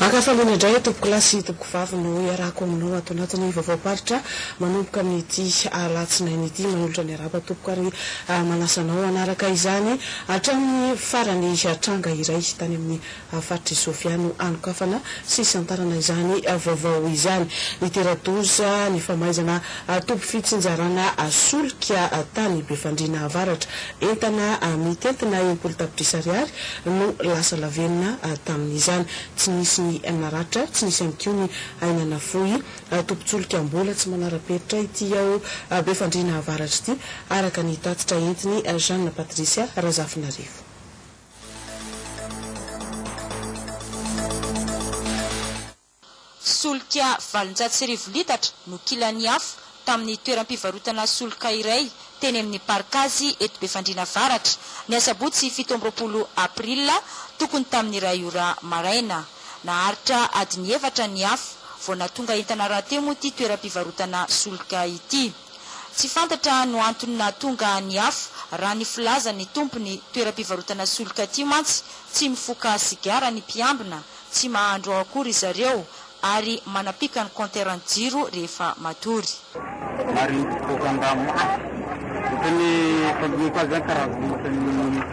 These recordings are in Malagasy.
Ankafaliana indray tompokolahy sy tompokovavy no iarahako aminao ato anatin'ny vaovaom-paritra manomboka amin'ity alatsinainy ity. Manolotra ny araba tompoko ary manasa anao hanaraka izany hatramin'ny farany tranga iray tany amin'ny faritr'i Sofia no hanokafana sy hisantarana izany vaovao izany. Nitera-doza ny famaizana toby fitsinjarana solika tany Befandriana Avaratra. Entana mitentina enimpolo tapitrisa ariary no lasa lavenona tamin'izany. Tsy nisy ny naratra, tsy nisy ihany koa ny aina nafoy. Tobin-tsolika mbola tsy manara-penitra ity ao Befandriana Avaratra ity, araka ny tatitra entin'i Jeanne Patricia Razafinarivo. Solika valonjato sy arivo litatra no kilan'ny afo tamin'ny toeram-pivarotana solika iray teny amin'ny Parkazy eto Befandriana Avaratra, ny asabotsy fito amby roapolo aprila tokony tamin'ny iray ora maraina. Naharitra adiny efatra ny afo vao nahatonga entana rahateo moa ity toeram-pivarotana solika ity. Tsy fantatra no antony nahatonga ny afo raha ny filazan'ny tompon'ny toeram-pivarotana solika ity mantsy tsy mifoka sigara ny mpiambina, tsy mahandro ao akory ry zareo ary manapika ny kaonteran'ny jiro rehefa matory. Maringo boaka an-dranomasina. Ohatran'ny fagiako azy zany karazana ohatran'ny.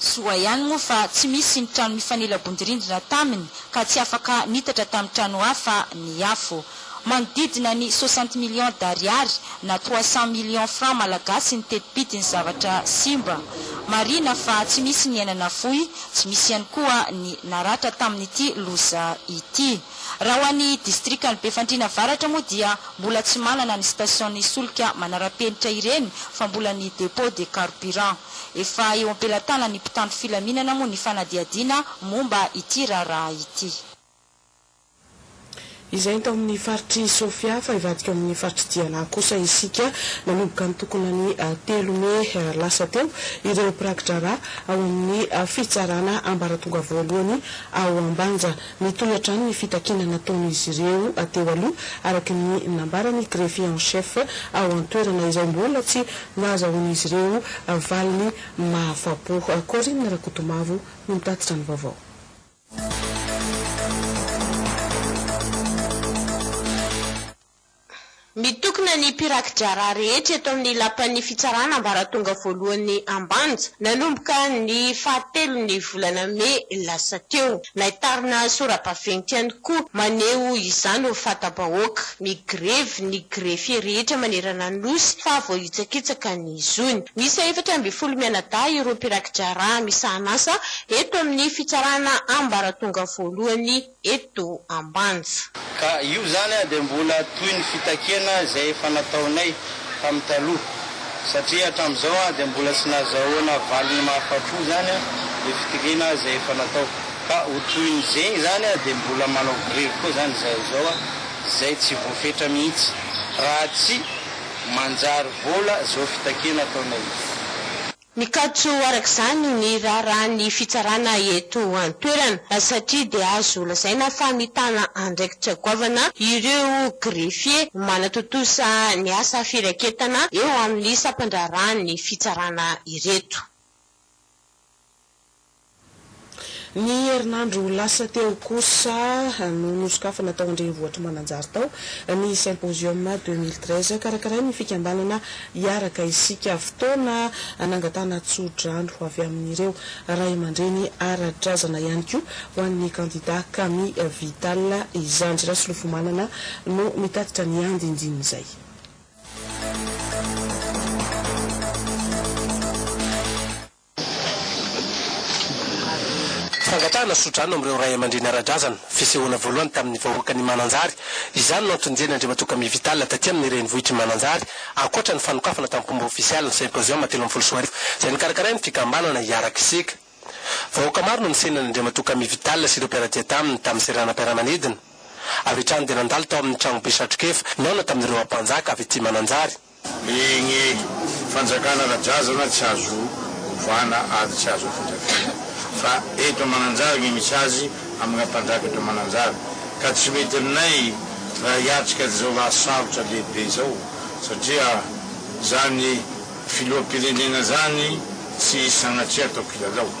Soa ihany moa fa tsy misy ny trano mifanila-bondirindrina taminy ka tsy afaka niitatra tamin'ny trano hafa ny afo. Manodidina ny soixante millions d'ariary na trois cents millions francs malagasy ny teti-bidin'ny zavatra simba. Marihina fa tsy misy ny aina nafoy, tsy misy ihany koa ny naratra tamin'ity loza ity. Raha ho an'ny distrikan'i Befandriana Avaratra moa dia mbola tsy manana ny station'ny solika manara-penitra ireny fa mbola ny dépôt de carburant. Efa eo am-pelatanan'ny mpitandro filaminana moa ny fanadihadiana momba ity raharaha ity. Izay tao amin'ny faritr'i Sofia, fa hivadika ao amin'ny faritr'i Diana kosa isika manomboka ny tokona ny telo mey lasa teo, ireo mpiraki-draharaha ao amin'ny fitsarana ambaratonga voalohany ao Ambanja. Nitohy hatrany ny fitakiana nataon'izy ireo teo aloha, araka ny nambaran'ny greffier en chef ao an-toerana, izay mbola tsy nahazahoan'izy ireo valiny mahafapo. Corine Rakotomavo no nitatitra ny vaovao. Mitokona ny mpiraki-draharaha rehetra eto amin'ny Lapan'ny Fitsarana Ambaratonga Voalohany Ambanja, nanomboka ny fahatelon'ny volana mey lasa teo. Naitarina sora-baventy ihany koa maneho izany ho fata-bahoaka. Migrevy ny greffier rehetra manerana ny Nosy fa voahitsakitsaka ny. ny zony. Miisa efatra ambin'ny folo mianadahy ireo mpirakitra-drà misahan'asa eto amin'ny fitsarana ambaratonga voalohany eto Ambanja. Ka io izany dia mbola toy ny fitakiana izay efa nataonay tamin'ny taloha satria hatramin'izao dia mbola tsy nazahoana valiny mahafapo izany ny fitiliana izay efa natao. Ka ho toy ny zegny izany dia mbola manao grevy koa izany izahay izao izay tsy voafetra mihitsy raha tsy. Manjary vola zo fitakena ataonay io. Mikatso araka izany ny raharahan'ny fitsarana eto an-toerana satria dia azo lazaina fa mitana andraikitra goavana ireo greffiers manatontosa ny asa firaketana eo amin'ny sampan-draharahan'ny fitsarana ireto. Ny herinandro lasa teo kosa no nosokafana tao an-drenivohitr'i Mananjary tao ny Symposium deux mille treize karakarain'ny fikambanana Hiaraka Isika. Fotoana nangatahana tsodrano avy amin'ireo ray aman-dreny ara-drazana ihany koa ho an'ny kandidà Kami Vital izany. Rasolofomanana no mitatitra ny andindin'izay. Fangatahana sodrano amin'ireo ray aman-dreny ara-drazana, fisehoana voalohany tamin'ny vahoakan'I Mananjary, izany no antony nijery Andriamatoa Camille Vital taty amin'ny renivohitr'I Mananjary, ankoatra ny fanokafana tamim-pomba ofisialy ny symposium telo ambin'ny folo sy roa arivo izay nokarakarain'ny fikambanana Hiaraka Isika. Vahoaka maro no nisehony an'Andriamatoa Camille Vital sy ireo mpiara-dia taminy tamin'ny seranam-piaramanidina. Avy hatrany dia nandalo tao amin'ny tranobe Satrokefa nihaona tamin'ireo Ampanjaka avy aty Mananjary. Eny e! Fanjakana ara-drazana tsy azo ovana ary tsy azo afindrafindra. Fa eto Mananjary no misy azy amina mpanjaka eto Mananjary. Ka tsy mety aminay raha hiatrika an'izao lahasarotra lehibe izao satria izany filoham-pirenena izany tsy sanatria atao kilalao.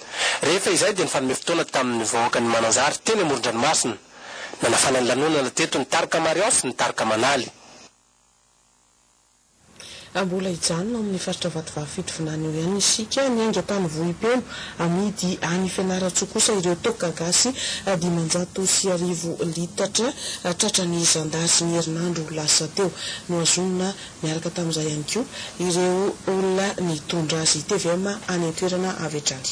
Rehefa izay dia nifanome fotoana tamin'ny vahoaka ny Mananjary teny amoron-dranomasina. Nanafana ny lanonana teto ny tarika Marion sy ny tarika Manaly. Mbola hijanona ao amin'ny faritra Vatovavy Fitovinany eo ihany isika. Ny aingam-pano vohipeno amidy any Fianarantsoa kosa ireo toaka gasy dimanjato sy arivo litatra tratran'ny zandary ny herinandro lasa teo. Nohazonina Niaraka tamin'izay ihany koa ireo olona nitondra azy tvm any an-toerana avy hatrany.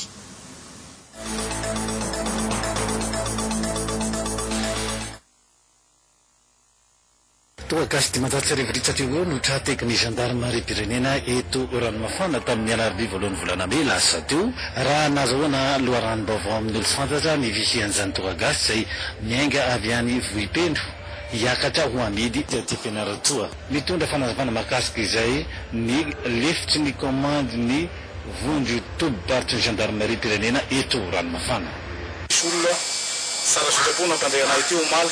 Toa gasy dimanjato sy arivo ritsaka eo ho eo no tra tekin'ny zandarimariam-pirenena eto Ranomafana tamin'ny alarobia voalohan'ny volana mey lasa teo, raha nazahoana loharanom-baovao amin'ny Olompifantsatra ny fisian'izany toa gasy izay miainga avy any Vohipeno hiakatra ho amidy aty Fianarantsoa. Nitondra fanazavana mahakasika izay ny lefitry ny kaomandy ny Vonjy tobim-paritry ny Zandarimariam-pirenena eto Ranomafana. Nisy olona tsara sitrapo nampandre anay ity omaly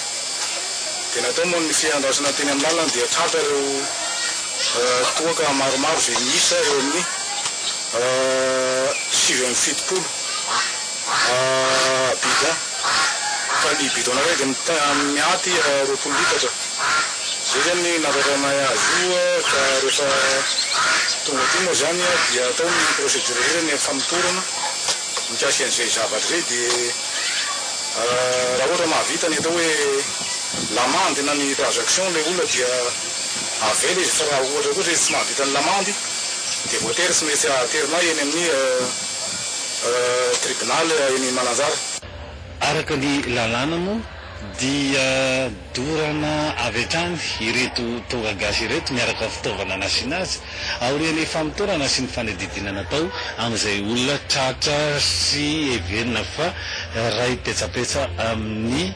dia natao moa ny fiandrasana teny amin'ny lalana dia tratra ireo toaka maromaro izay miisa eo amin'ny sivy amby fitopolo. bidon fa ny bidon anankiray dia mita miaty roapolo litatra izay zany nahatratraranay azy io ka rehefa tonga aty moa zany dia atao ny procedure rehetra ny famotorana mikasika an'izay zavatra izay dia raha ohatra mahavita ny atao hoe l'amende na ny transaction ilay olona dia avela izy fa raha ohatra kosa izy tsy mahavita ny l'amende dia voatery tsy maintsy aterina eny amin'ny tribunal eny Mananjara. Araka ny lalàna moa dia dorana avy hatrany ireto tonga gasy ireto miaraka amin'ny fitaovana nasiana azy aorian'ny famotorana sy ny fanadihadiana natao amin'izay olona tratra sy heverina fa raim-petsapetsa amin'ny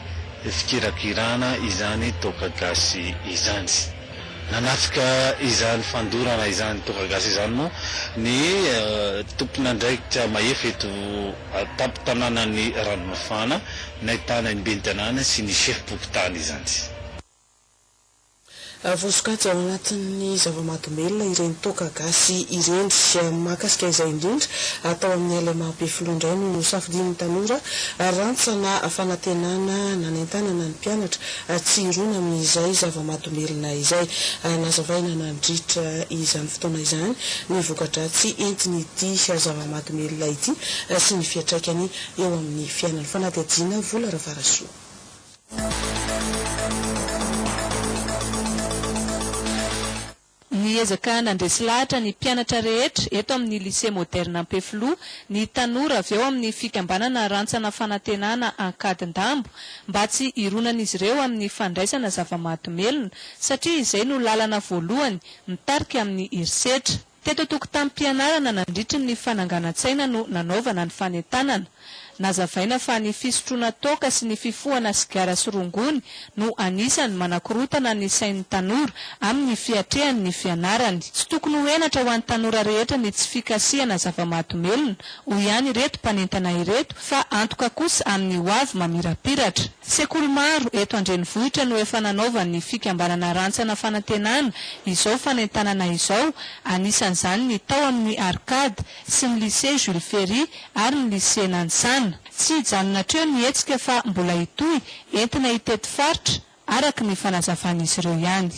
fikirakirana izany toaka gasy izany. Nanatrika izany fandorana izany ny Toaka Gasy izany moa ny tompon'andraikitra mahefa eto an-tampon-tanànan'i Ranomafana, nahitana ny ben'ny tanàna sy ny sefom-pokontany izany. Voasokajy ao anatin'ny zava-mahadomelina ireny Toaka Gasy ireny. Mahakasika izay indrindra, tao amin'ny Alai Mahabe Filoha indray no nosafidian'ny tanora, rantsana fanantenana nanentanana ny mpianatra hatsiroana amin'izay zava-mahadomelina izay. Nazavaina nandritra izany fotoana izany ny voka-dratsy entin'ity zava-mahadomelina ity sy ny fiantraikany eo amin'ny fiainana. Fanadihadiana Vola Ravarasoa. Niezaka nandresy lahatra ny mpianatra rehetra eto amin'ny Lycée Moderne Ampefiloha ny tanora avy ao amin'ny fikambanana Rantsana Fanantenana Ankadindambo mba tsy hironan'izy ireo amin'ny fandraisana zava-mahadomelina satria izay no lalana voalohany mitarika amin'ny herisetra. Teto an-tokotanim-pianarana nandritry ny fananganan-tsaina no nanaovana ny fanentanana. Nazavaina fa ny fisotroana toaka sy ny fifohana sigara sy rongony no anisan'ny manakorotana ny sain'ny tanora amin'ny fiatrehany ny fianarany. Tsy tokony ho henatra ho an'ny tanora rehetra ny tsy fikasihana zava-mahadomelina, hoy ihany ireto mpanentana ireto, fa antoka kosa amin'ny hoavy mamirapiratra. Sekoly maro eto an-drenivohitra no efa nanaovan'ny fikambanana Rantsana Fanantenana izao fanentanana izao, anisan'izany ny tao amin'ny Arcade, sy ny Lycée Jules Ferry ary ny Lycée Nanisana. Tsy hijanona hatreo ny hetsika fa mbola hitohy, entina hitety faritra, araka ny fanazavan'izy ireo ihany.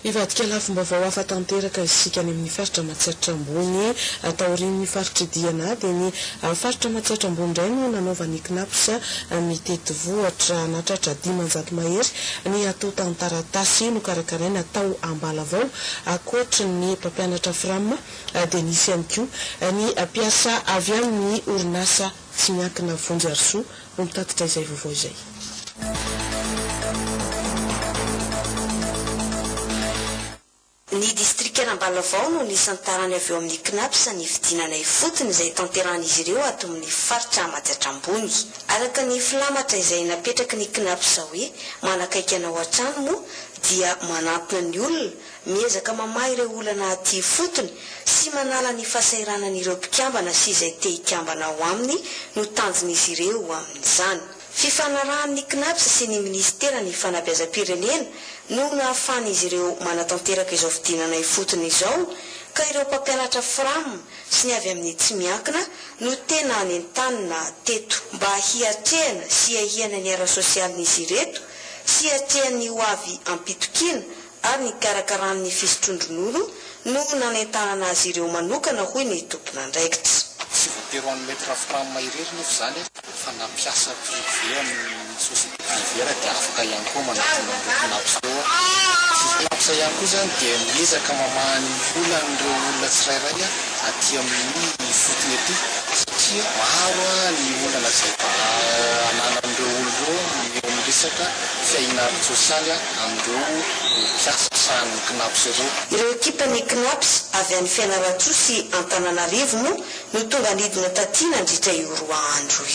Hivadika lafim-baovao hafa tanteraka isika any amin'ny faritra Matsiatra Ambony. Taorian'ny faritr'i Diana dia ny faritra Matsiatra Ambony indray no nanaovan'ny Cnaps ny tetivohatra. Nahatratra dimanjato mahery ny atontan-taratasy nokarakaraina tao Ambalavao Ankoatry ny mpampianatra Fram dia nisy ihany koa ny mpiasa avy amin'ny orinasa tsy miankina Vonjy Harisoa no nitatitra izay vaovao izay. Ny distrikan'Ambalavao no nisantarany avy eo amin'ny Cnaps ny fidinana ifotony izay tanterahan'izy ireo ato amin'ny faritra Amajatra Ambony. Araka ny filamatra izay napetraky ny Cnaps hoe manakaiky anao hatrany moa dia manantona ny olona, miezaka mamaha ireo olana aty ifotony sy manala ny fahasahiranany ireo mpikambana sy izay te hikambana ao aminy no tanjon'izy ireo amin'izany. Fifanarahan'ny Cnaps sy ny Minisiteran'ny Fanabeazam-pirenena no nahafahan'izy ireo manatanteraka izao fidinana ifotony izao ka ireo mpampianatra Fram sy ny avy amin'ny tsy miankina no tena nentanina teto mba hiatrehana sy hiahiana ny ara-sosialin'izy ireto Fiatrehany ny hoavy am-pitokiana ary nikarakarany ny fisotroan-dronono no nanentahana azy ireo manokana hoy ny tompon'andraikitra. Tsy voatery ho an'ny Maître Fram irery nefa izany fa na mpiasa privé amin'ny société privée ary dia afaka ihany koa manatona an'ireo Cnaps ireo. Ity Cnaps ihany koa izany dia miezaka mamaha ny olan'ireo olona tsirairay aty amin'ny ifotony aty satria maro ny olana izay ananan'ireo olona ireo. Eo amin'ny resaka fiahiana ara-tsosialy amin'ireo mpiasa sahanin'ny Cnaps ireo. Ireo ekipan'ny Cnaps avy any Fianarantsoa sy Antananarivo moa no tonga nidina taty nandritra io roa andro io.